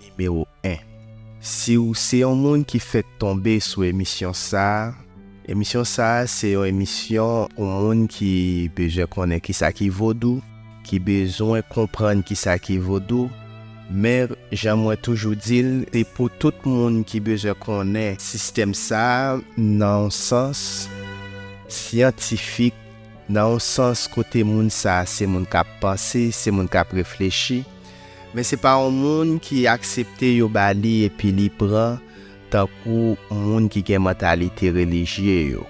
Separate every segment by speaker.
Speaker 1: Nimewo 1. Si w se yon moun ki fèk tonbe sou emisyon sa a, emisyon sa a se yon emisyon pou moun ki bezwen konnen kisa ki vodou, ki bezwen konprann kisa ki vodou, men jan mwen toujou di l, se pou tout moun ki bezwen konnen sistèm sa a nan yon sans syantifik, nan yon sans kote moun sa a se moun k ap panse, se moun k ap reflechi, Men se pa yon moun ki aksepte yo ba li epi li pran tankou moun ki gen mantalite relijye yo.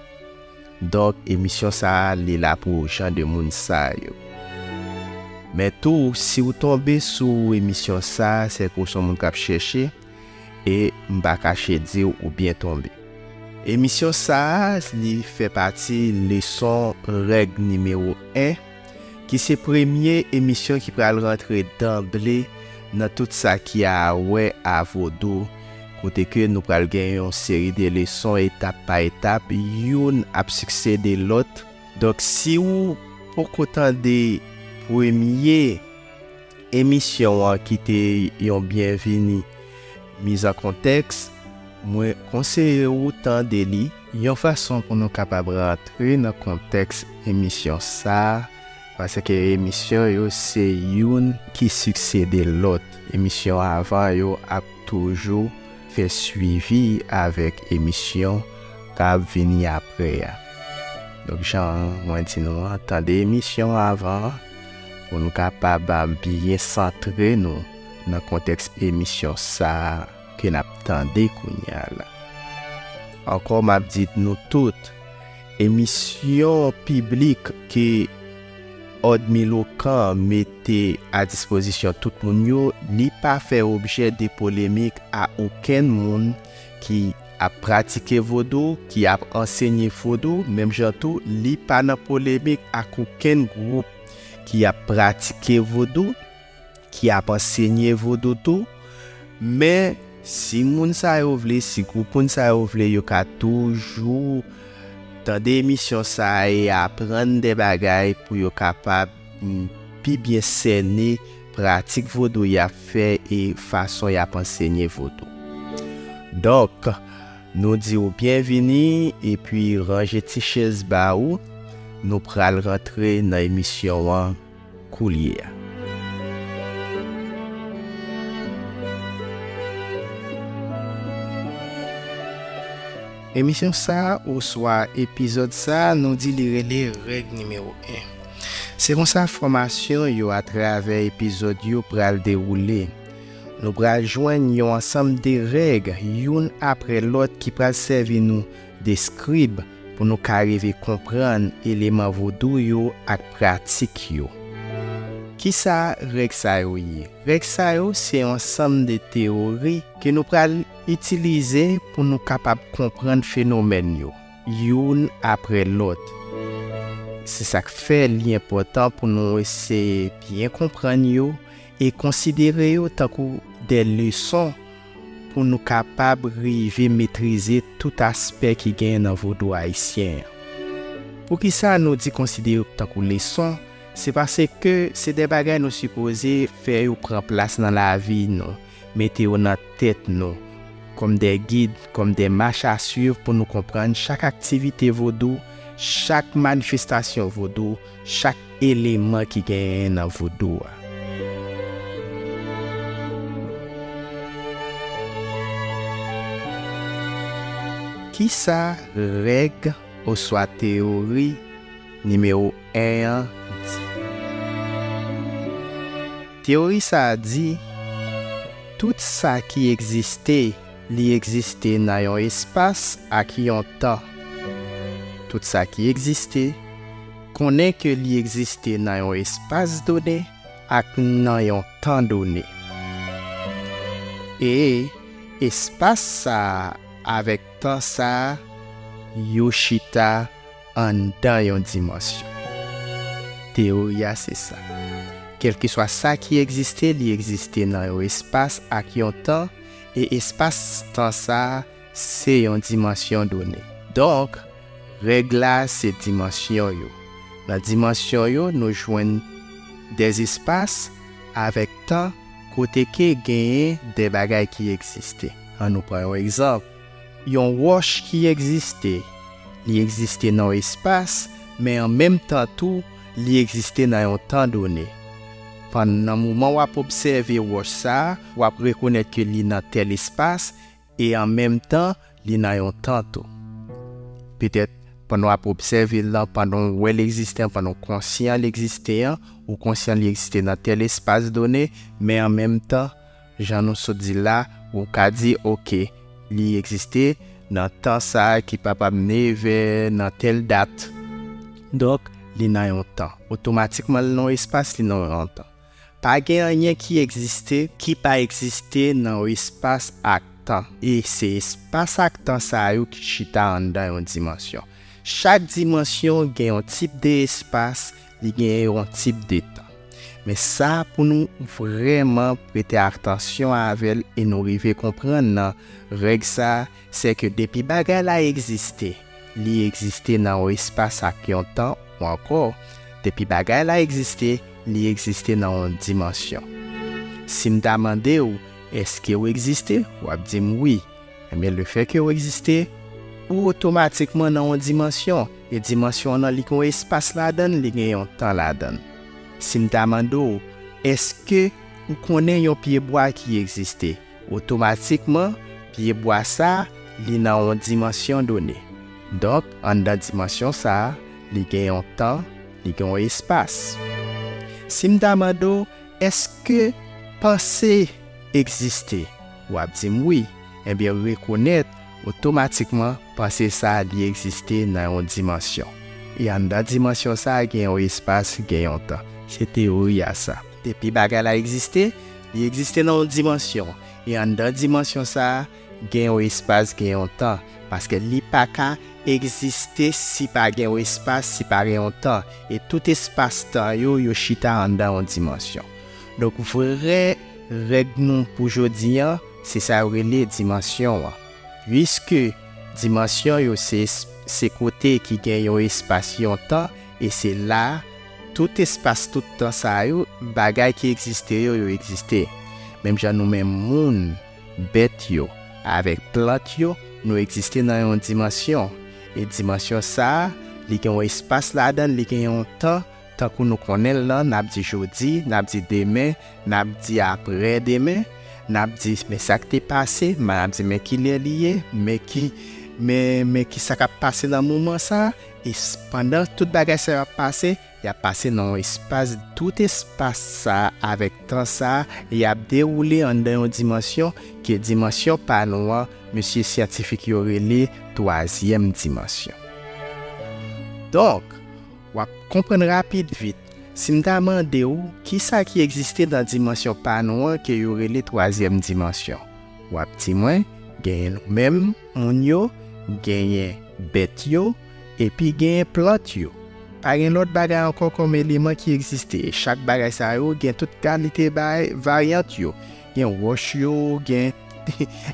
Speaker 1: Donk emisyon sa a li la pou jan de moun sa yo. Men tou si ou tonbe sou emisyon sa a se ke ou son moun kap chèche e m pa kache di w ou byen tonbe. Emisyon sa a li fè pati leson règ nimewo 1. ki se premye emisyon ki pral rantre danble nan tout sa ki a wè a vodou, kote ke nou pral gen yon seri de leson etap pa etap, youn ap siksede lòt. Donk si ou poko tande premye emisyon an ki te yon byenvini, mizankontèks, mwen konseye ou tande li. Yon fason pou nou kapab rantre nan kontèks emisyon sa, paske emisyon yo se youn ki siksede lòt, emisyon avan yo ap toujou fè swivi avèk emisyon k ap vini apre a. Donk jan mwen di nou an, tande emisyon avan an pou nou kapab byen santre nou nan kontèks emisyon sa. ke nap tande kounya la. Ankò map di nou tout, emisyon piblik ke Òd Milokan mete a dispozisyon tout moun yo, li pa fè objè de polemik a okenn moun ki ap pratike vodou, ki ap ansenye vodou, menm jan tou li pa nan polemik ak okenn gwoup ki ap pratike vodou. ki ap ansenye vodou tou, men si moun sa yo vle, si gwoup moun sa yo vle yo ka toujou tande emisyon sa e aprann de bagay pou yo kapab pi byen sène pratik vodou y ap fè e fason y ap ansenye vodou. Donk, nou di ou byenvini epi ranje ti chèz ba ou, nou pral rantre nan emisyon an. koulye a. Emisyon sa a oswa epizòd sa a nou di li rele Règ Nimewo 1. Se konsa fòmasyon yo atravè epizòd yo pral dewoule. Nou pral jwenn yon ansanm de règ youn apre lòt ki pral sèvi nou de scribe pou nou ka rive konprann eleman vodou yo ak pratik yo. Kisa règ sa yo ye? Règ sa yo se yon ansanm de teyori ke nou pral itilize pou nou kapab konprann fenomèn yo youn apre lòt. Se sa k fè li enpòtan pou nou eseye byen konprann yo e konsidere yo tankou de leson pou nou kapab rive metrize tout aspè ki genyen nan vodou ayisyen an. Poukisa nou di konsidere yo tankou leson, se paske se de bagay nou sipoze fè yo pran plas nan lavi nou, mete yo nan tèt nou, kòm de gid, kòm de mach a swiv pou nou konprann chak aktivite vodou, chak manifestasyon vodou, Chak eleman ki genyen nan vodou a. Kisa règ oswa teyori nimewo 1 an di? Teyori sa a di, Tout sa ki egziste. Li egziste nan yon espas ak yon tan. Tout sa ki egziste, konnen ke li egziste nan yon espas done ak nan yon tan done. E, espas sa a avèk tan sa a, yo chita anndan yon dimansyon. Teyori a se sa. Kèlkeswa sa ki egziste, li egziste nan yon espas ak yon tan, E espas tan sa a se yon dimansyon done. Donk, règ la se dimansyon yo. Nan dimansyon yo nou jwenn de espas avèk tan kote ke genyen de bagay ki egziste. An nou pran yon egzanp, yon wòch ki egziste, li egziste nan yon espas men an menm tan tou Li egziste nan yon tan done. Pann nan moman w ap obsève wòch sa a, w ap rekonèt ke li nan tèl espas e an menm tan li nan yon tan tou. Petèt, pandan w ap obsève l lan, pandan w wè l egziste an, pandan w konsyan l egziste an, ou konsyan li egziste nan tèl espas done, men an menm tan, Jan nou sot di la, ou ka di, ok, li egziste nan tan sa ki pa pa mne vè nan tèl dat. Donk, li nan yon tan. Otomatikman li nan yon espas, li nan yon tan. Pa gen anyen ki egziste ki pa egziste nan yon espas ak tan. E se espas ak tan sa yo ki chita anndan yon dimansyon. Chak dimansyon gen yon tip de espas Li gen yon tip de tan. Men sa pou nou vrèman prete atansyon avè l e nou rive konprann nan règ sa a, sè ke depi bagay la egziste, li egziste nan yon espas ak yon tan ou ankò, depi bagay la egziste, li egziste nan yon dimansyon. Si m ta mande ou, èske ou egziste? W ap di m wi. Enben lefè ke ou egziste, ou otomatikman nan yon dimansyon, e dimansyon nan li gen yon espas ladann, li gen yon tan ladann. Si m ta mande w, èske ou konnen yon pye bwa ki egziste? Otomatikman, pye bwa sa a, li nan yon dimansyon done. Donk, anndan dimansyon sa a, li gen yon tan, li gen yon espas. Si m ta mande w, èske panse egziste? W ap di m wi, enben rekonèt otomatikman panse sa a li egziste nan yon dimansyon. E anndan dimansyon sa a gen yon espas, gen yon tan. Se teyori a sa. Depi bagay la egziste, li egziste nan yon dimansyon. E anndan dimansyon sa a, gen yon espas, gen yon tan. Paske li pa ka egziste si pa gen yon espas, si pa gen yon tan. E tout espas-tan yo, yo chita anndan yon dimansyon. Donk vrè règ nou pou jodi an se sa yo rele dimansyon an. Puiske dimansyon yo se se kote ki gen yon espas yon tan e se la tout espas tout tan sa yo bagay ki egziste yo yo egziste. Menm jan nou menm moun, bèt yo, avèk plant yo nou egziste nan yon dimansyon e dimansyon sa li gen yon espas ladan li gen yon tan Tankou nou konnen l lan, n ap di jodi, n ap di demen, n ap di apre demen, n ap di men sa k te pase, m ap di men ki lè li ye, men ki men men ki sa k ap pase nan moman sa a, e pandan tout bagay sa yo ap pase, y ap pase nan yon espas, tout espas sa a avèk tan sa a, y ap dewoule anndan yon dimansyon, ke dimansyon pa nou an, mesye syantifik yo rele twazyèm dimansyon. Donk. W ap konprann rapid vit. Si m ta mande w kisa ki egziste nan dimansyon pa nou an ke yo rele twazyèm dimansyon, w ap di mwen genyen nou menm moun yo, genyen bèt yo, epi genyen plant yo. Pa gen lòt bagay ankò kòm eleman ki egziste. Chak bagay sa yo gen tout kalite bay varyant yo. Gen wòch yo, gen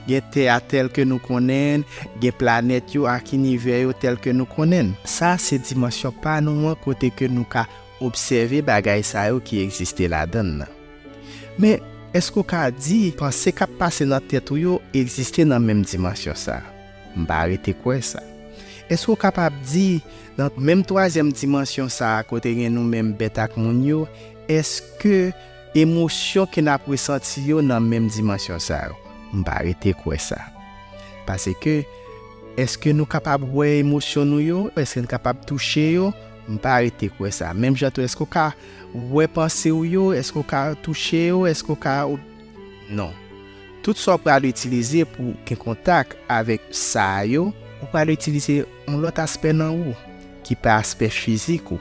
Speaker 1: gen tè a tèl ke nou konnen n, gen planèt yo ak inivè yo tèl ke nou konnen n. Sa a se dimansyon pa nou an kote ke nou ka obsève bagay sa yo ki egziste ladan n nan. Men, èske ou ka di panse k ap pase nan tèt ou yo egziste nan menm dimansyon sa a? M pa rete kwè sa. Èske ou kapab di, nan menm twazyèm dimansyon sa a kote gen nou menm bèt ak moun yo, èske Emosyon ke nap resanti yo nan menm dimansyon sa yo? M pa rete kwè sa. Pase ke, eske nou kapab wè emosyon nou yo? Eske n kapab touche yo? M pa rete kwè sa. Menm jan tou, eske w ka wè panse w yo? Eske w ka touche yo? Eske w ka ob. Non. Tout sa w pral itilize pou gen kontak avèk sa yo, ou pral itilize yon lòt aspè nan ou, ki pa aspè fizik ou.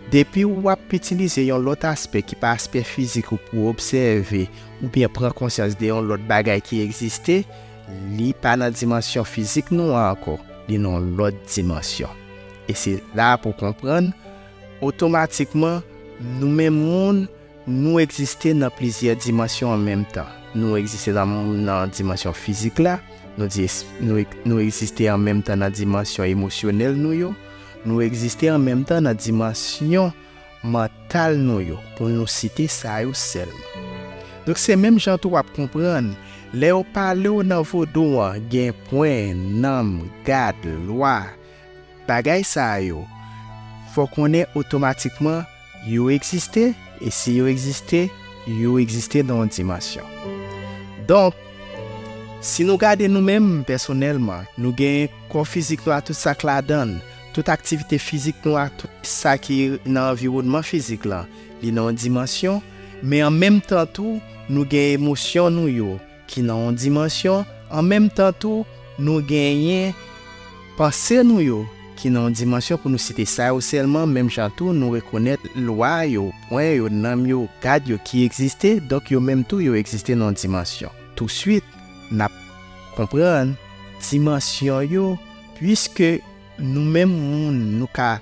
Speaker 1: Depi ou ap itilize yon lòt aspè ki pa aspè fizik ou pou obsève oubyen pran konsyans de yon lòt bagay ki egziste, li pa nan dimansyon fizik nou an ankò, li nan yon lòt dimansyon. E se la pou w konprann, otomatikman, nou menm moun, Nou egziste nan plizyè dimansyon an menm tan. Nou egziste nan dimansyon fizik la, nou egziste an menm tan nan dimansyon emosyonèl nou yo, nou egziste an menm tan nan dimansyon mantal nou yo, pou nou site sa yo sèlman. Donk se menm jan tou w ap konprann, lè yo pale w nan vodou an gen pwen, nanm, gad, lwa, Bagay sa yo, fò konnen otomatikman yo egziste, e si yo egziste, yo egziste nan yon dimansyon. Donk, si nou gade nou menm, pèsonèlman, nou genyen kò fizik nou ak tout sa k ladan l, tout aktivite fizik nou ak tout sa ki nan anviwònman fizik lan, li nan yon dimansyon, men an menm tan tou, nou gen emosyon nou yo, ki nan yon dimansyon, an menm tan tou, nou genyen panse nou yo ki nan yon dimansyon, pou nou site sa yo sèlman, menm jan tou nou rekonèt lwa yo, pwen yo, nòm yo, gad yo ki egziste, donk yo menm tou yo egziste nan yon dimansyon. Tousuit, n ap konprann dimansyon yo, puiske nou menm moun, nou ka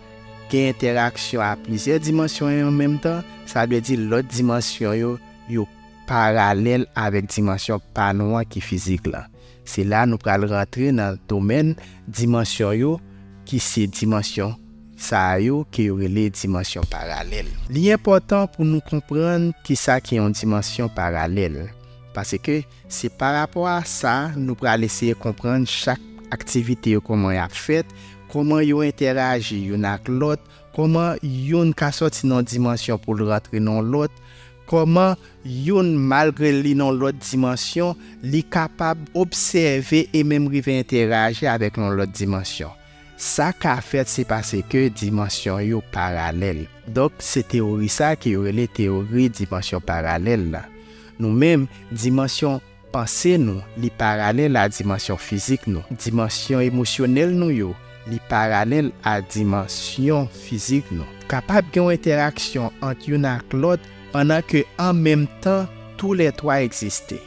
Speaker 1: gen entèraksyon a plizyè dimansyon an menm tan, sa vle di lòt dimansyon yo, yo paralèl avèk dimansyon pa nou an ki fizik lan. Se la nou pral rantre nan domèn dimansyon yo ki se dimansyon sa yo ke yo rele dimansyon paralèl. Li enpòtan pou nou konprann ki sa ki yon dimansyon paralèl, paske se pa rapò a sa nou pral eseye konprann chak aktivite yo kòman y ap fèt, kòman yo entèraji youn ak lòt, kòman youn ka sòti nan yon dimansyon pou l rantre nan yon lòt, Kòman youn, malgre l li nan yon lòt dimansyon, li kapab obsève e menm rive entèraji avèk yon lòt dimansyon? Sa ka fèt se paske dimansyon yo paralèl. Donk, se teyori sa a ke yo rele teyori dimansyon paralèl la. Nou menm, dimansyon Panse nou, li paralèl a dimansyon fizik nou. Dimansyon emosyonèl nou yo, li paralèl a dimansyon fizik nou. Kapab gen yon entèraksyon ant youn ak lòt pandan ke an menm tan tou lè twa egziste.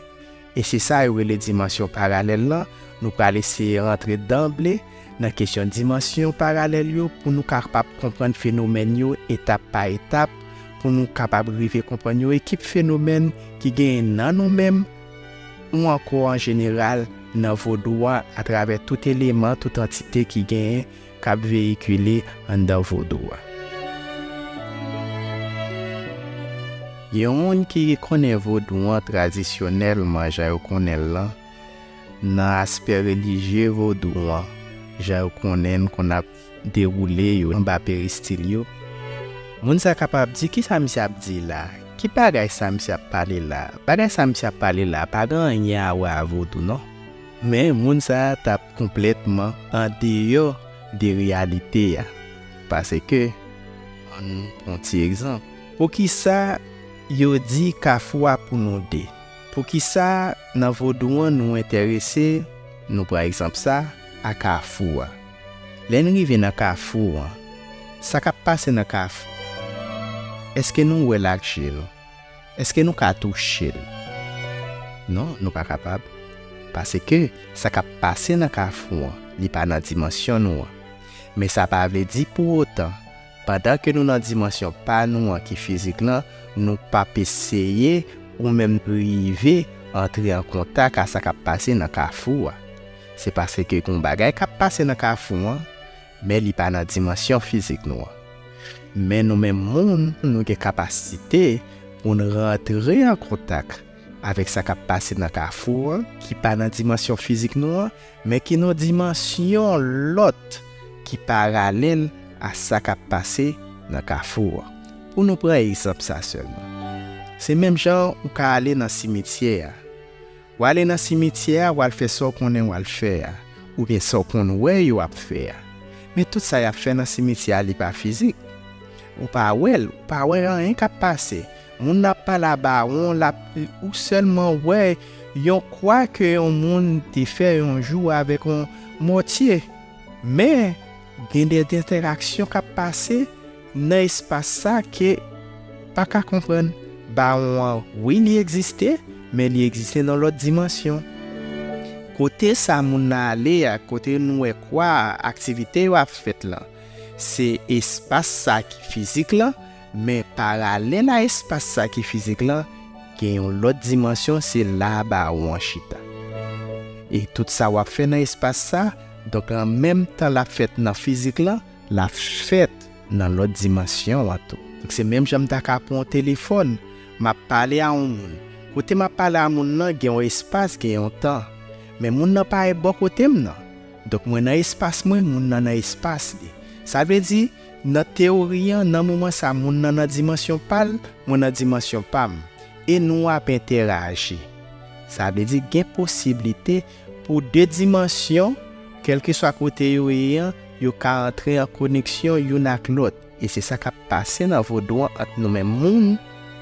Speaker 1: E se sa yo rele dimansyon paralèl lan, nou pral eseye rantre danble Nan kesyon dimansyon paralèl yo, pou nou kapab konprann fenomèn yo etap pa etap, pou nou kapab rive konprann yon ekip fenomèn ki genyen nan nou menm, ou ankò an jeneral nan vodou an atravè tout eleman, tout antite ki genyen, k ap veyikile anndan vodou an. Yon moun ki konnen vodou an tradisyonèlman jan yo konnen l lan, nan aspè relijye vodou an jan yo konnen l konn ap dewoule yo anba peristil yo. Moun sa kapab di kisa misye ap di la, ki bagay sa misye ap pale la, bagay sa misye ap pale la pa gen anyen a wè a vodou non. Men moun sa t ap konplètman andeyò de reyalite a paske an nou pran yon ti egzanp. Poukisa yo di kafou a pou nou 2? Poukisa nan vodou an nou enterese, nou pran egzanp sa, a kafou a? Lè n rive nan kafou an, sa k ap pase nan kafou an? Èske nou wè l ak je nou? Èske nou ka touche l? Non, nou pa kapab. Paske, sa k ap pase nan kafou an, li pa nan dimansyon nou an. Men sa pa vle di pou otan Pandan ke nou nan dimansyon pa nou an ki fizik lan, nou p ap eseye ou menm rive antre an kontak a sa k ap pase nan kafou a. Se paske gon bagay k ap pase nan kafou an, men li pa nan dimansyon fizik nou an. Men nou menm moun, nou gen kapasite pou n rantre an kontak avèk sa k ap pase nan kafou an ki pa nan dimansyon fizik nou an, Men ki non dimansyon lòt ki paralèl a sa k ap pase nan Kafou an. Pou nou pran egzanp sa sèlman. Se menm jan ou ka ale nan simityè a. W ale nan simityè a, w al fè sa w konnen w al fè a, oubyen sa w konn wè yo ap fè a. Men tout sa y ap fè nan simityè a li pa fizik. Ou pa wè l, ou pa wè anyen k ap pase. Moun ap pale a bawon lap ou selman wè yon kwa ke yon moun te fè yon jou avek yon mòtye men gen de entèraksyon kap pase nan espas sa ke ou pa ka konprann bawon an wi li egziste men li egziste nan lòt dimansyon kote sa moun nan ale a kote nou wè kwa a aktivite yo ap fèt lan se espas sa ki fizik lan Men paralèl a espas sa ki fizik lan, gen yon lòt dimansyon se la a bawon an chita. E tout sa w ap fè nan espas sa, donk an menm tan l ap fèt nan fizik lan, l ap fèt nan lòt dimansyon an tou. Donk se menm jan m ta ka pran yon telefòn, m ap pale a yon moun. Kote m ap pale a moun lan gen yon espas, gen yon tan. Men moun lan pa e bò kote m nan. Donk mwen nan espas mwen, moun lan nan espas li. Sa vle di, Nan teyori an, nan moman sa moun nan nan dimansyon pa l, mwen nan dimansyon pa m, e nou ap entèraji. Sa vle di gen posiblite pou de dimansyon, kèlkeswa kote yo ye an, yo ka antre an koneksyon youn ak lòt, e se sa k ap pase nan vodou an ant nou menm moun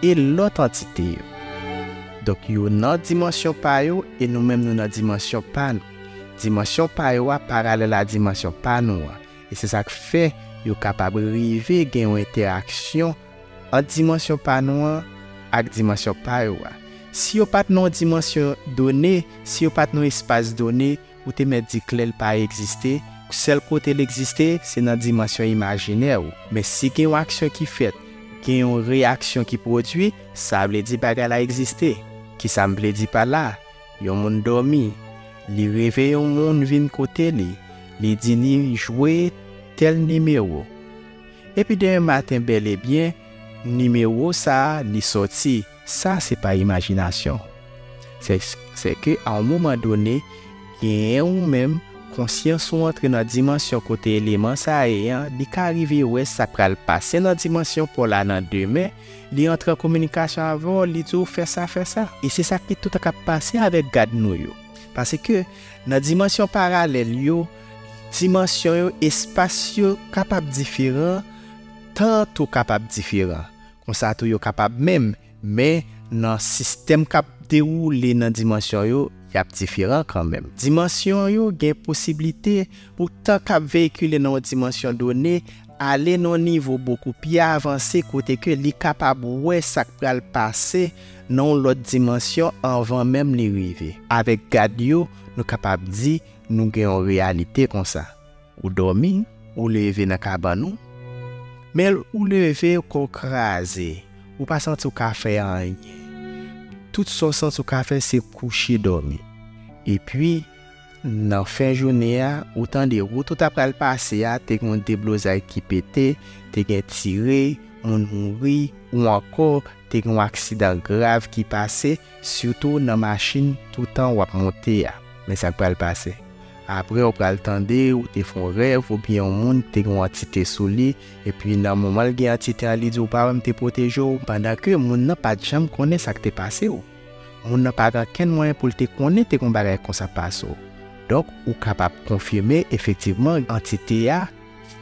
Speaker 1: e lòt antite yo. Donk yo nan dimansyon pa yo e nou menm nou nan dimansyon pa nou. Dimansyon pa yo a paralèl a dimansyon pa nou an. E se sa k fè yo kapab rive gen yon entèraksyon ant dimansyon pa nou an ak dimansyon pa yo a. Si yo pa t nan yon dimansyon done, si yo pa t nan yon espas done, ou te mèt di klè l pa egziste, sèl kote l egziste, se nan dimansyon imajinè ou. Men si gen yon aksyon ki fèt, gen yon reyaksyon ki pwodui, sa vle di bagay la egziste. Ki sa m vle di pa la? Yon moun dòmi, li reve yon moun vin kote li, li di li jwe tèl nimewo. Epi demen maten bèlebyen, nimewo sa a li sòti. Sa se pa imajinasyon. Se ke a yon moman done, genyen ou menm, konsyans ou antre nan dimansyon kote eleman sa a ye an, li ka rive wè sa k pral pase nan dimansyon pa w la nan demen, Li antre an kominikasyon avè w, li di w fè sa, fè sa. E se sa ki tout tan k ap pase avèk gad nou yo. Paske, nan dimansyon paralèl yo, dimansyon yo, espas yo kapab diferan, tan an tou kapab diferan. Konsa tou yo kapab menm, men nan sistèm k ap dewoule nan dimansyon yo, y ap diferan kanmenm. Dimansyon yo gen posiblite pou tan k ap veyikile nan yon dimansyon done ale nan nivo bokou pi avanse kote ke li kapab wè sa k pral pase nan yon lòt dimansyon anvan menm li rive. Avèk gad yo, nou kapab di nou gen yon reyalite konsa. Ou dòmi, ou leve nan kabann ou, men ou leve kò w kraze, ou pa santi w ka fè anyen. Tout sa w santi w ka fè se kouche dòmi. Epi, Nan fen jounen an, ou tande wout ou ta pral pase a te gen yon deblozay ki pete, te gen tire, moun mouri, ou ankò te gen yon aksidan grav ki pase, sitou nan machin toutan w ap monte a. Men sa k pral pase. Apre ou pral tande ou te fè yon rèv oubyen yon moun ki te gen yon antite sou li, epi nan moman l gen antite an li di w pa wè m te pwoteje w, pandan ke moun nan pa t janm konnen sa k te pase w. Moun nan pa gen okenn mwayen pou l te konnen te gen yon bagay konsa Paso. Donk, ou kapab konfime efektivman antite a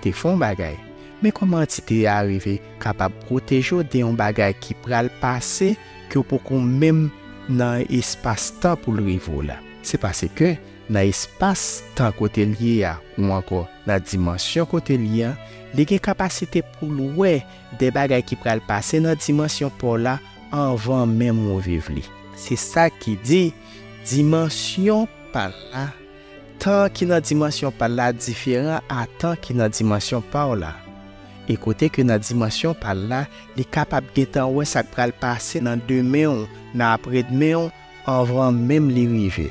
Speaker 1: te fè yon bagay. Men kòman antite a rive kapab pwoteje w de yon bagay ki pral pase ke w poko menm nan espas tan pou l rive w la? Se pase ke nan espas tan kote l ye a ou ankò nan dimansyon kote l ye a, li gen kapasite pou l wè de bagay ki pral pase nan dimansyon pa w la, Anvan menm ou viv li. Se sa ki di, dimansyon pa l la, tan ki nan dimansyon pa l la diferan a tan ki nan dimansyon pa w la. E kote ke nan dimansyon pa l la, li kapab gentan wè sa k pral pase nan demen w, nan apredmen w, Anvan menm li rive.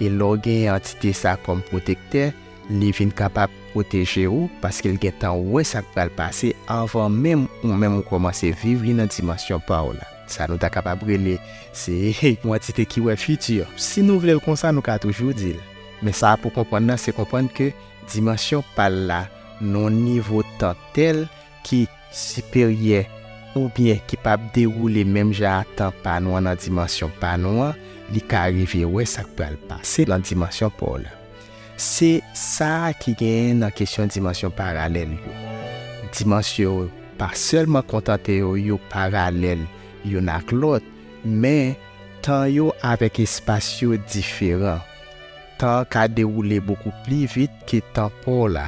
Speaker 1: E lè w genyen antite sa kòm pwotektè, li vin kapab pwoteje ou paske l gen tan wè sa k pral pase anvan menm ou menm ou kòmanse viv li nan dimansyon pa w la. Sa nou ta kapab rele se yon antite ki wè fiti. Si nou vle l konsa, nou ka toujou di l. Men sa a pou w konprann nan se konprann ke dimansyon pa l la nan yon nivo tan tèl, ki siperyè oubyen ki pa p dewoule menm jan a tan pa nou an nan dimansyon pa nou an, li ka rive wè sa k pral pase nan dimansyon pa w la. Se sa a ki genyen nan kesyon dimansyon paralèl yo. Dimansyon yo pa sèlman kontante yo yo paralèl youn ak lòt, men, tan yo avèk espas yo diferan. Tan an ka dewoule bokou pli vit ke tan pa w la.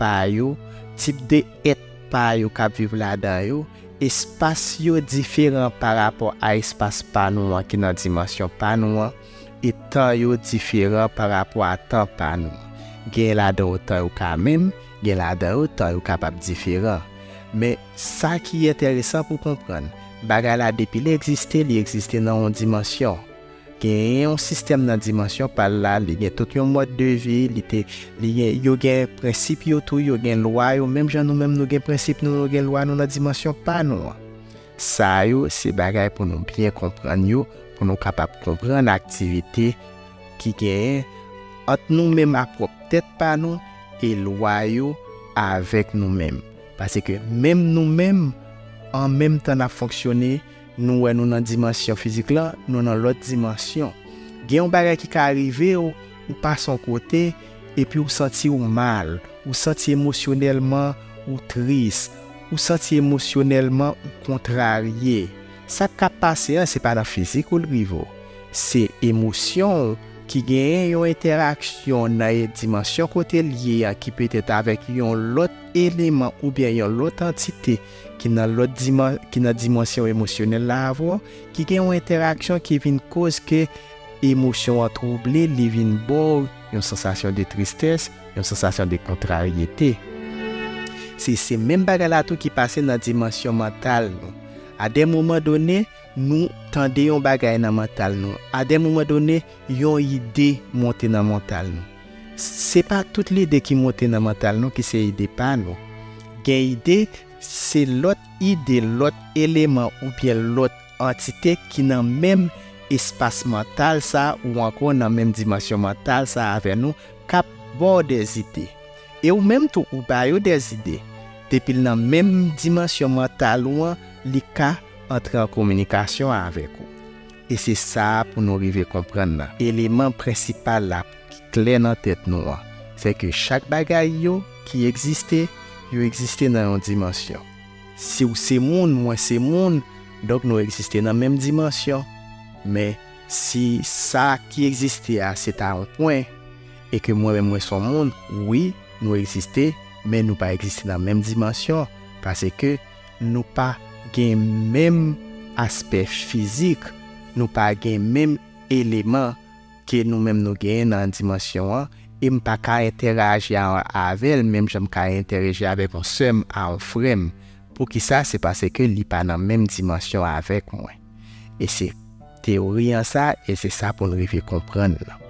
Speaker 1: pa yo, tip de èt pa yo k ap viv ladan yo, espas yo diferan pa rapò a espas pa nou an ki nan dimansyon pa nou an, e tan yo diferan pa rapò a tan pa nou an. Genyen ladan yo tan yo ka menm, gen ladan yo tan yo kapab diferan. Men, sa ki enteresan pou konprann, bagay la depi li egziste, li egziste nan yon dimansyon. Genyen yon sistèm nan dimansyon pal la, li gen tout yon mòd de vi, li te, li gen, yo gen prensip yo tou, yo gen lwa yo, menm jan nou menm nou gen prensip nou, nou gen lwa nou nan dimansyon pa nou an. Sa yo se bagay pou nou byen konprann yo, pou nou kapab konprann aktivite ki genyen ant nou menm a pwòp tèt pa nou e lwa yo avèk nou menm. Pase ke menm nou menm, an menm tan n ap fonksyone, Nou wè nou nan dimansyon fizik la, nou nan lòt dimansyon. Gen yon bagay ki ka rive w, ou pase yon kote, epi ou santi ou mal, ou santi emosyonèlman ou tris, ou santi emosyonèlman ou kontrarye. Sa k ka pase an, se pa nan fizik ou li rive w. Se emosyon w ki genyen yon entèraksyon nan yon dimansyon kote l ye an ki petèt avèk yon lòt eleman oubyen yon lòt antite ki nan lòt diman, ki nan dimansyon emosyonèl la avè w, ki gen yon entèraksyon ki vin koz ke emosyon an twouble, li vin ba w yon sansasyon de tristès, yon sansasyon de kontraryete. Se, se menm bagay la tou ki pase nan dimansyon mantal nou. A de moman done, nou tande yon bagay nan mantal nou. A de moman done, yon ide monte nan mantal nou. Se pa tout lide ki monte nan mantal nou ki se ide pa nou. Gen ide, se lòt ide, lòt eleman oubyen lòt antite ki nan menm espas mantal sa ou ankò nan menm dimansyon mantal sa avè nou k ap ba w de zide. E ou menm tou ou ba yo de zide. Depi l nan menm dimansyon mantal ou an, li ka antre an kominikasyon avèk ou. E se sa a pou nou rive konprann nan. Eleman prensipal la ki klè nan tèt nou an, se ke chak bagay yo ki egziste, yo egziste nan yon dimansyon. Si w se moun, mwen se moun, donk nou egziste nan menm dimansyon. Men, si sa ki egziste a se ta yon pwen, e ke mwen menm mwen se yon moun, wi, nou egziste, men nou pa egziste nan menm dimansyon, pase ke. Nou pa gen menm aspè fizik, nou pa gen menm eleman ke nou menm nou genyen nan dimansyon an, e m pa ka entèraji avè l menm jan m ka entèreji avèk yon sè m a yon frè m. Poukisa? Se pase ke li pa nan menm dimansyon avèk mwen. E se teyori an sa e se sa pou n rive konprann lan.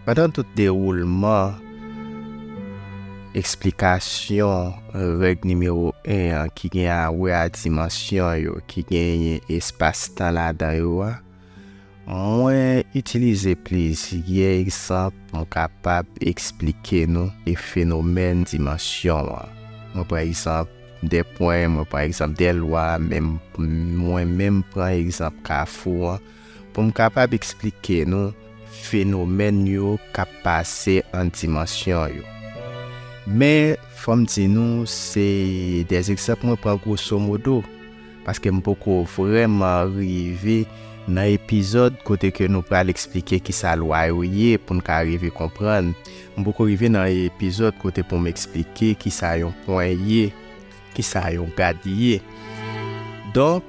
Speaker 1: Pandan tout dewoulman eksplikasyon règ nimewo 1 an ki gen a wè a dimansyon yo ki genyen espas-tan ladan yo a, Mwen itilize plizyè egzanp pou m kapab esplike nou e fenomèn dimansyon an. Mwen pran egzanp de pwen, mwen pran egzanp de lwa, men mwen menm pran egzanp kafou an pou m kapab esplike nou fenomèn yo k ap pase ant dimansyon yo. Men, fò m di nou se de egzanp mwen pran gwosomodo. Paske m poko vrèman rive nan epizòd kote ke nou pral eksplike kisa lwa yo ye pou n ka rive konprann. M poko rive nan epizòd kote pou m eksplike kisa yon pwen ye, kisa yon gad ye. Donk,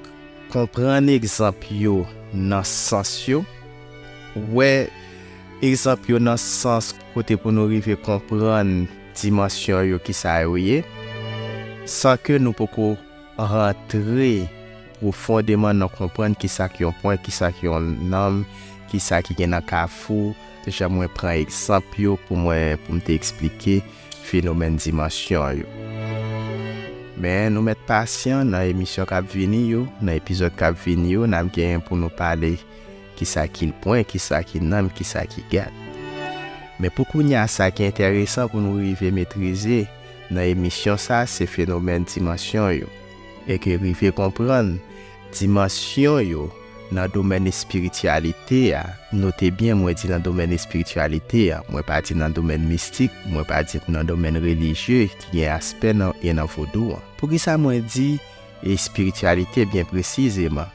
Speaker 1: konprann egzanp yo nan sans yo, wè egzanp yo nan sans kote pou nou rive konprann dimansyon yo kisa yo ye, san ke nou poko. Rantre pwofondeman nan konprann ki sa k yon pwen, ki sa k yon nanm, ki sa ki gen nan kafou, jan mwen pran egzanp yo pou mwen pou m te eksplike fenomèn dimansyon yo. Men nou mèt pasyan, nan emisyon k ap vini yo, nan epizòd k ap vini yo, n ap gen pou nou pale ki sa ki l pwen, ki sa ki nanm, ki sa ki gad. Men pou kounye a sa ki enteresan pou nou rive metrize, nan emisyon sa se fenomèn dimansyon yo e ke rive konprann dimansyon yo nan domèn espirityalite a, note byen mwen di nan domèn espirityalite a, mwen pa di nan domèn mistik, mwen pa di nan domèn relijye ki gen aspè nan e nan vodou an. Poukisa mwen di espirityalite byen presizeman?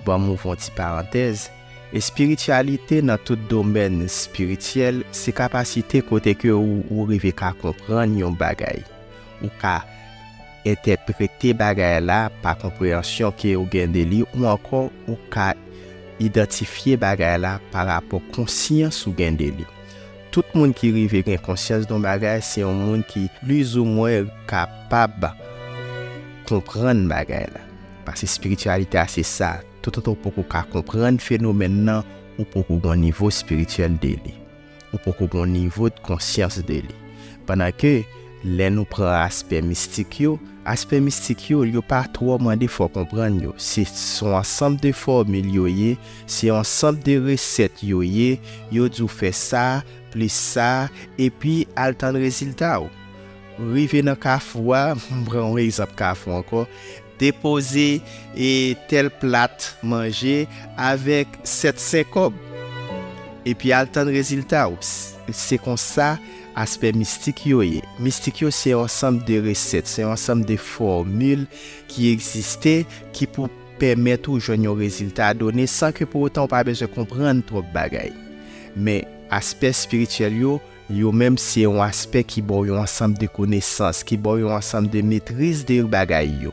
Speaker 1: Ban m ouvr on ti parantèz, espirityalite nan tout domèn espirityèl se kapasite kote ke ou rive ka konprann yon bagay, ou ka entèprete bagay la pa konpreyansyon ke ou gen de li ou ankò ou ka idantifye bagay la pa rapò konsyans ou gen de li. Tout moun ki rive gen konsyans don bagay se yon moun ki plizoumwen kapab konprann bagay la. Pase spirityalite a se sa, toutotan ou poko ka konprann fenomèn nan, ou poko gon nivo spirityèl de li. Ou poko gon nivo de konsyans de li. Pandan ke, lè nou pran aspè mistik yo, aspè mistik yo, yo pa twò mande fò konprann yo. Se son ansanm de fòmil yo ye, se yon ansanm de resèt yo ye, yo di w fè sa, plis sa, epi al tann rezilta w. Rive nan kafou a, m pran yon egzanp kafou ankò, depoze e tèl plat manje avèk 7 sen kòb. Epi al tann rezilta w. Se konsa aspè mistik yo ye. Mistik yo se yon ansanm de resèt, se yon ansanm de fòmil ki egziste ki pou pèmèt ou jwenn yon rezilta done san ke pou otan ou pa bezwen konprann twòp bagay. Men aspè espirityèl yo. Yo menm se yon aspè ki ba w yon ansanm de konesans, ki ba w yon ansanm de metriz de bagay yo.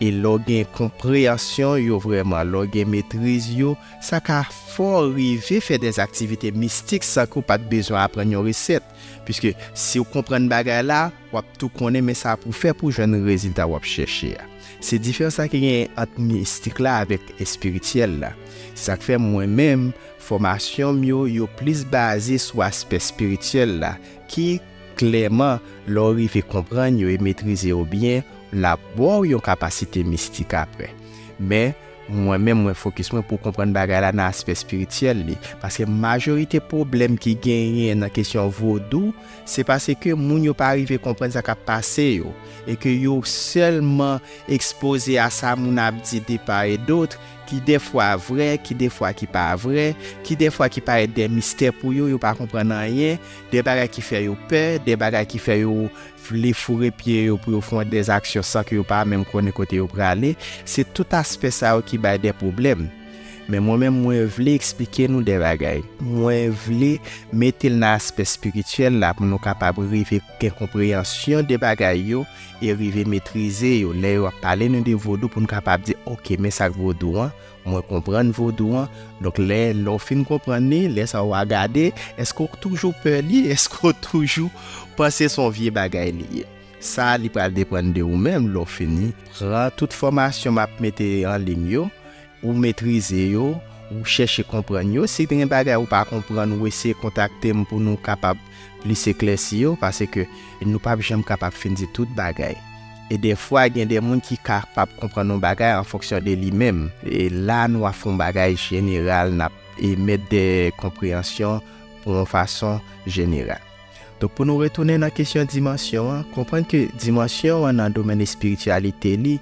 Speaker 1: E lè w gen konpreyansyon yo vrèman, lè w gen metriz yo, sa ka fè w rive fè dè aktivite mistik san ke w pa t bezwen aprann yon resèt. Piske si w konprann bagay la, w ap tou konnen men sa pou w fè pou w jwenn rezilta w ap chèche a. Se diferans sa ki genyen ant mistik la avèk espirityèl la. Se sa k fè mwen menm, Fòmasyon m yo yo plis baze sou aspè espirityèl la ki, klèman, lè w rive konprann yo e metrize yo byen, l ap ba w yon kapasite mistik apre. Men, mwen menm mwen fokis mwen pou konprann bagay la nan aspè espirityèl li, paske majorite pwoblèm ki genyen nan kesyon vodou se paske moun yo pa rive konprann sa k ap pase yo e ke yo sèlman ekspoze a sa moun ap di de pa e dotr, ki dèfwa vrè, ki dèfwa ki pa vrè, ki dèfwa ki parèt dè mistè pou yo, yo pa konprann anyen, dè bagay ki fè yo pè, dè bagay ki fè yo vle foure pye yo pou yo fon dè zaksyon san ke yo pa menm konnen kote yo prale, se tout aspè sa yo ki bay dè pwoblèm. Men mwen menm mwen vle eksplike nou dè bagay. Mwen vle mete l nan aspè spirityèl la pou nou kapab rive. gen konpreyansyon de bagay yo e rive metrize yo lè yo ap pale nou de vodou pou n kapab di ok men sa k vodou an mwen konprann vodou an donk lè lè w fin konprann li lè sa wa gade èske w toujou pè li èske w toujou panse son vye bagay li ye sa li pral depann de ou menm lè w fini pran tout fòmasyon m ap mete anlim yo Ou metrize yo, ou chèche konprann yo. Si gen bagay ou pa konprann, ou eseye kontakte m pou nou kapab plis eklèsi yo, paske nou pap janm kapab fin di tout bagay. E dèfwa gen de moun ki kapab konprann yon bagay an fonksyon de li menm. E la nou ap fè yon bagay jeneral, n ap emèt de konpreyansyon pou yon fason jeneral. Donk pou nou retounen nan kesyon dimansyon an, konprann ke dimansyon an nan domèn espirityalite li,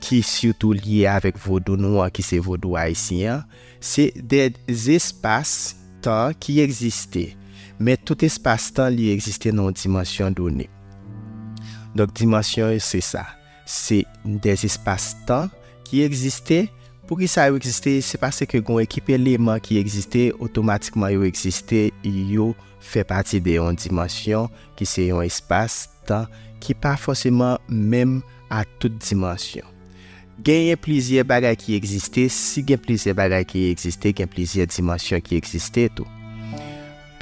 Speaker 1: ki sitou lye avèk vodou nou an ki se vodou ayisyen an, se de zespas tan ki egziste, men tout espas tan li egziste nan yon dimansyon done. Donk dimansyon yo se sa, se de zespas tan ki egziste, pou ki sa yo egziste, se paske gen yon ekip eleman ki egziste, otomatikman yo egziste, yo fè pati de yon dimansyon ki se yon espas tan ki pa fòseman menm. a tout dimansyon. Genyen plizyè bagay ki egziste, si gen plizyè bagay ki egziste gen plizyè dimansyon ki egziste tou.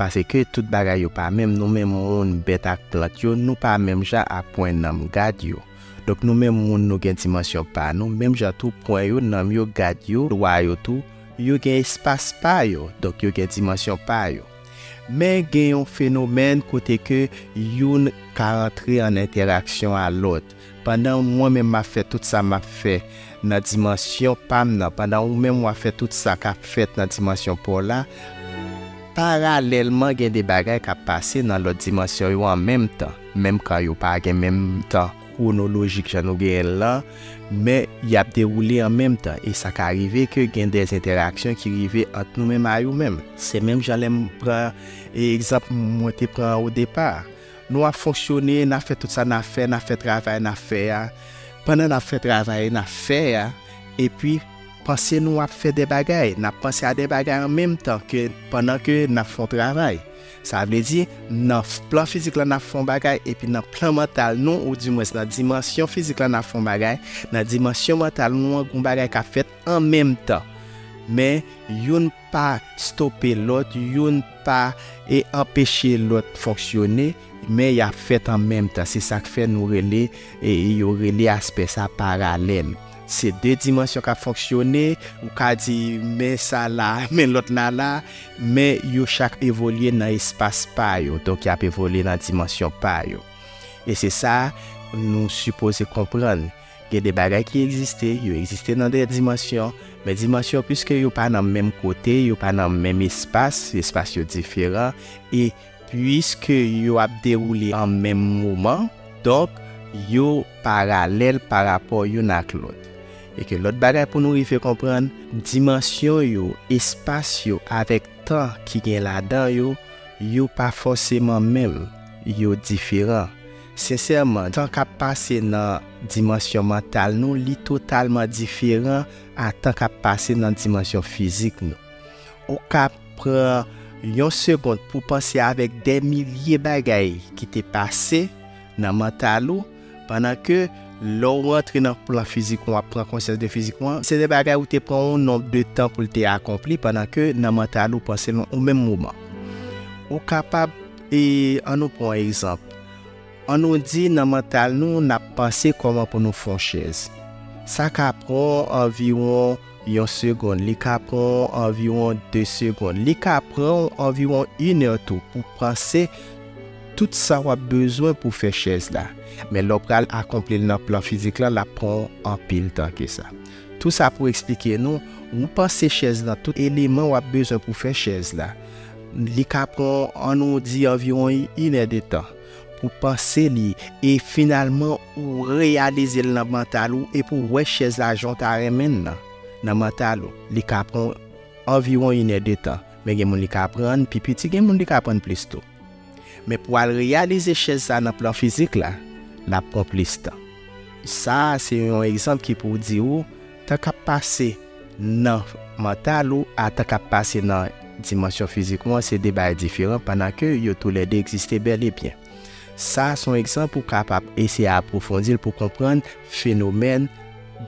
Speaker 1: Paseke tout bagay yo pa menm, nou menm moun, bèt ak plant yo, nou pa menm jan a pwen nanm gad yo. Donk nou menm moun nou gen dimansyon pa nou, menm jan tou pwen yo, nanm yo, gad yo, lwa yo tou, yo gen espas pa yo, donk yo gen dimansyon pa yo. Men gen yon fenomèn kote ke youn ka antre an entèraksyon a lòt. Pandan mwen menm map fè tout sa map fè nan dimansyon pam nan, pandan ou menm wap fè tout sa kap fèt nan dimansyon paw la, paralèlman gen de bagay kap pase nan lòt dimansyon yo an menm tan, menm kan yo pa gen menm tan. kwonolojik jan nou genyen l lan, men y ap dewoule an menm tan e sa ka rive ke gen de entèraksyon ki rive ant nou menm a yo menm. Se menm jan lè m pran egzanp mwen te pran an odepa a. Nou ap fonksyone, n ap fè tout sa n ap fè, n ap fè travay n ap fè a, pandan n ap fè travay n ap fè a, epi panse nou ap fè de bagay, n ap panse a de bagay an menm tan ke pandan ke n ap fè yon travay. Sa vle di, nan plan fizik la n ap fè yon bagay, epi nan plan mantal nou, ou dimwens nan dimansyon fizik la n ap fè yon bagay, nan dimansyon mantal nou an gen yon bagay k ap fèt an menm tan. Men, youn pa stope lòt, youn pa anpeche lòt fonksyone, men y ap fèt an menm tan. Se sa k fè nou rele, yo rele aspè sa paralèl. Se de dimansyon k ap fonksyone, ou ka di men sa la, men lòt la la, men yo chak evolye nan espas pa yo, donk y ap evolye nan dimansyon pa yo. E se sa nou sipoze konprann, gen de bagay ki egziste, yo egziste nan de dimansyon, men dimansyon piske yo pa nan menm kote, yo pa nan menm espas, espas yo diferan, e. Puiske yo ap dewoule an menm moman, donk yo paralèl parapò youn ak lòt. E ke lòt bagay pou nou rive konprann, dimansyon yo, espas yo avèk tan ki gen ladan yo, yo pa fòseman menm, yo diferan. Sensèman, tan k ap pase nan dimansyon mantal nou, li totalman diferan a tan k ap pase nan dimansyon fizik nou. Ou ka pran yon segond pou panse avèk dè milye bagay ki te pase nan mantal ou pandan ke lè ou rantre nan plan fizik ou, ou ap pran konsyans de fizik ou an, se de bagay ou te pran yon nonb de tan pou l te akonpli pandan ke nan mantal ou panse l yon menm moman. Ou kapab e an nou pran yon egzanp, an nou di nan mantal nou n ap panse kòman pou nou fè yon chèz. Sa ka pran anviwon. yon segond, li ka pran w anviwon de segond, li ka pran w anviwon inè tou pou panse tout sa w ap bezwen pou fè chèz la. Men lè w pral akonpli l nan plan fizik lan, l ap pran w anpil tan ke sa. Tou sa pou eksplike nou, ou panse chèz lan, tout eleman w ap bezwen pou fè chèz la, li ka pran w, an nou di anviwon inè de tan. pou panse li e finalman ou reyalize l nan mantal ou epi w wè chèz la jan w ta renmen l lan. Nan mantal ou, li ka pran w anviwon inè de tan, men gen moun li ka pran n pi piti gen moun li ka pran n plis tou. Men pou w al reyalize chèz sa nan plan fizik la, l ap pran w plis tan. Sa a se yon egzanp ki pou di ou, Tan k ap pase nan mantal ou a tan k ap pase nan dimansyon fizik ou an se de bagay diferan pandan ke yo tou lè de egziste bèl e byen. Sa a se yon egzanp ou kapab eseye apwofondi l pou konprann fenomèn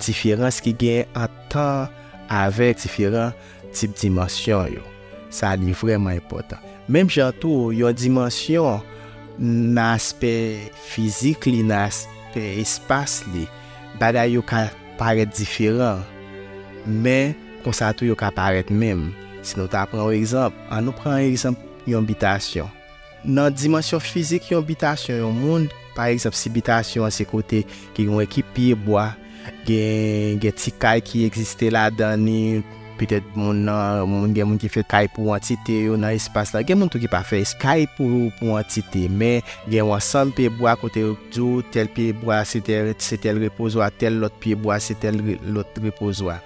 Speaker 1: diferans ki genyen ant tan avèk diferan tip dimansyon yo. Sa li vrèman enpòtan. Menm jan tou, yon dimansyon nan aspè fizik li, nan aspè espas li, bagay yo ka. Parèt diferan, men konsa tou yo ka parèt menm. Si nou ta pran yon egzanp, annou pran egzanp yon bitasyon. Nan dimansyon fizik yon bitasyon yon moun, pa egzanp si bitasyon an se kote ki gen yon ekip pye bwa, gen gen ti kay ki egziste ladan li, Petèt moun nan, gen moun ki fè kay pou antite yo nan espas la. Gen moun tou ki pa fè kay pou antite, men gen yon ansanm pye bwa kote yo di w tèl pye bwa se tèl repozwa, tèl lòt pye bwa se tèl lòt repozwa.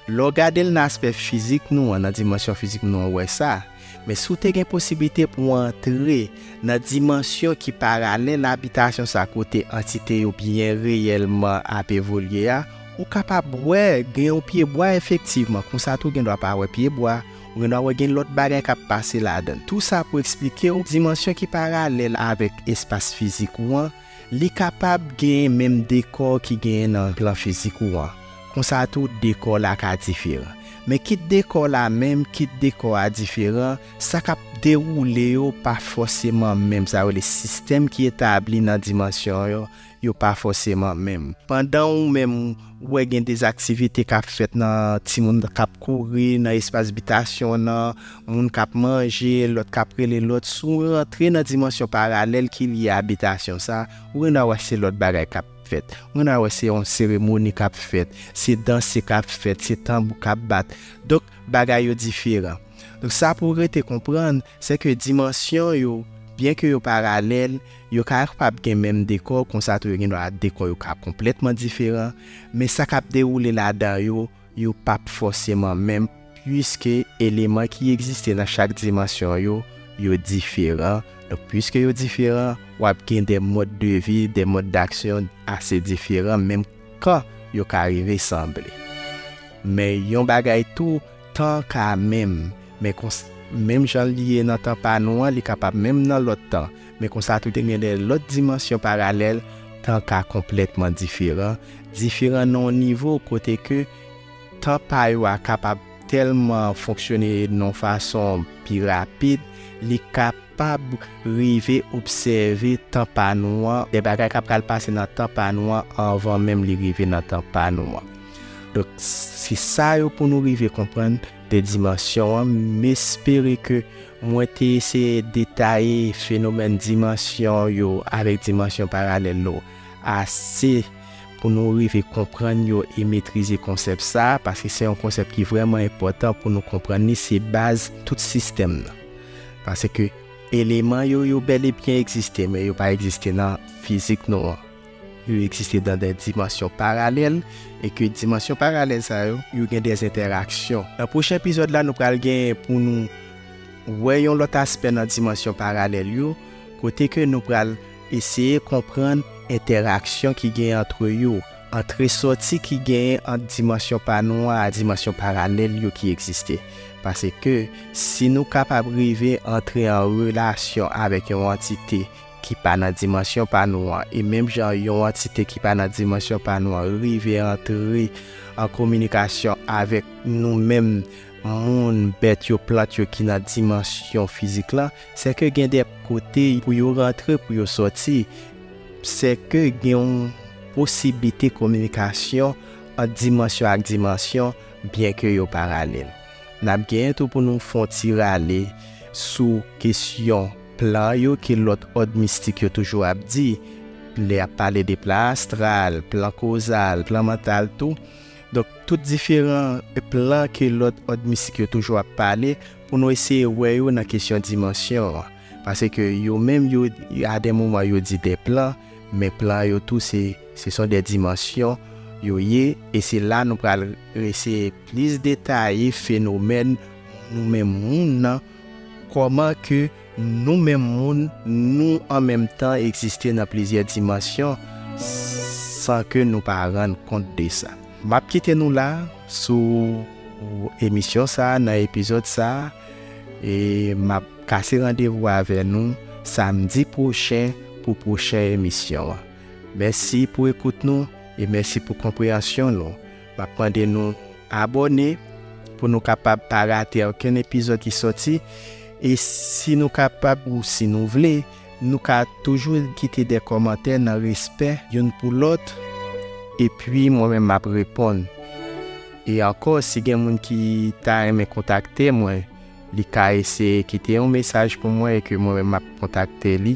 Speaker 1: Lè w gade l nan aspè fizik nou an, nan dimansyon fizik nou an, ou wè sa. Men si w te gen posiblite pou w antre nan dimansyon ki paralèl abitasyon sa kote antite yo byen reyèlman ap evolye a, ou kapab wè gen yon pyebwa efektivman, konsa tou w gendwa pa wè pyebwa, ou gendwa wè gen lòt bagay k ap pase ladan l. Tou sa pou eksplike w dimansyon ki paralèl avèk espas fizik ou an, Li kapab genyen menm dekò ki genyen nan plan fizik ou an, konsa tou dekò la ka diferan. Men kit dekò la menm, kit dekò a diferan, sa k ap dewoule yo pa fòseman menm, sa yo rele sistèm ki etabli nan dimansyon yo, yo pa fòseman menm. Pandan ou menm ou wè gen dezaktivite k ap fèt nan timoun k ap kouri nan espas bitasyon nan, moun k ap manje, lòt k ap rele lòt, si w rantre nan dimansyon paralèl ki lye abitasyon sa, ou gen dwa wè se lòt bagay k ap fèt, ou gen dwa wè se yon seremoni k ap fèt, se danse k ap fèt, se tanbou k ap bat, donk bagay yo diferan. Donk sa pou w rete konprann, se ke dimansyon yo, byen ke yo paralèl, yo ka kapab gen menm dekò, konsa tou yo gen dwa dekò yo ka konplètman diferan, men sa k ap dewoule ladan yo, Yo pa p fòseman menm piske eleman ki egziste nan chak dimansyon yo, yo diferan. Donk, piske yo diferan, w ap gen de mòd de vi, de mòd daksyon ase diferan menm kan yo ka rive sanble. Men yon bagay tou, tan ka menm. Men konsa, menm jan li ye nan tan pa nou an, li kapab menm nan lòt tan. Men konsa tou te gen de lòt dimansyon paralèl tan ka konplètman diferan, diferan nan yon nivo kote ke tan pa yo a kapab tèlman fonksyone nan fason pi rapid, li kapab rive obsève tan pa nou an, de bagay ka pral pase nan tan pa nou an anvan menm li rive nan tan pa nou an. Donk, se sa yo pou nou rive konprann. 2 dimansyon an, m espere ke mwen te eseye detaye fenomèn dimansyon yo avèk dimansyon paralèl yo ase pou nou rive konprann yo e metrize konsèp sa, paske se yon konsèp ki vrèman enpòtan pou nou konprann li, se baz tout sistèm nan. Paske eleman yo, yo bèlebyen egziste, men yo pa egziste nan fizik nou an. Yo egziste nan de dimansyon paralèl e ke dimansyon paralèl sa yo, yo gen de entèraksyon. Nan pwochen epizòd la nou pral genyen pou nou wè yon lòt aspè nan dimansyon paralèl yo kote ke nou pral eseye konprann entèraksyon ki genyen antre yo, antre sòti ki genyen ant dimansyon pa nou a a dimansyon paralèl yo ki egziste. Pase ke si nou kapab rive antre an relasyon avèk yon antite ki pa nan dimansyon pa nou an, e menm jan yon antite ki pa nan dimansyon pa nou an rive antre an kominikasyon avèk nou menm moun, bèt yo, plant yo ki nan dimansyon fizik lan, sèke gen de kote pou yo rantre, pou yo sòti, sèke gen yon posiblite kominikasyon ant dimansyon ak dimansyon, byenke yo paralèl. N ap genyen tou pou nou fon ti rale sou kesyon. Plan yo ke lòt òd mistik yo toujou ap di, lè y ap pale de plan astral, plan kozal, plan mantal tou. Donk, tout diferan plan ke lòt òd mistik yo toujou ap pale, pou nou eseye wè yo nan kesyon dimansyon an. Pase ke yo menm yo, a de moman yo di de plan, men plan yo tou se, se son de dimansyon yo ye, e se la nou pral eseye plis detaye fenomèn nou menm moun nan, Kòman ke nou menm moun nou an menm tan egziste nan plizyè dimansyon san ke nou pa rann kont de sa? M ap kite nou la sou emisyon sa a nan epizòd sa a e m ap kase randevou avè nou samdi pwochen pou pwochen emisyon an. Mèsi pou ekout nou e mèsi pou konpreyansyon nou. M ap mande nou abòne pou nou kapab pa rate okenn epizòd ki sòti. E si nou kapab ou si nou vle, nou ka toujou kite de kòmantè nan respè youn pou lòt. Epi mwen menm m ap reponn. E ankò, si gen moun ki ta renmen kontakte mwen, li ka eseye kite yon mesaj pou mwen e ke mwen menm m ap kontakte li.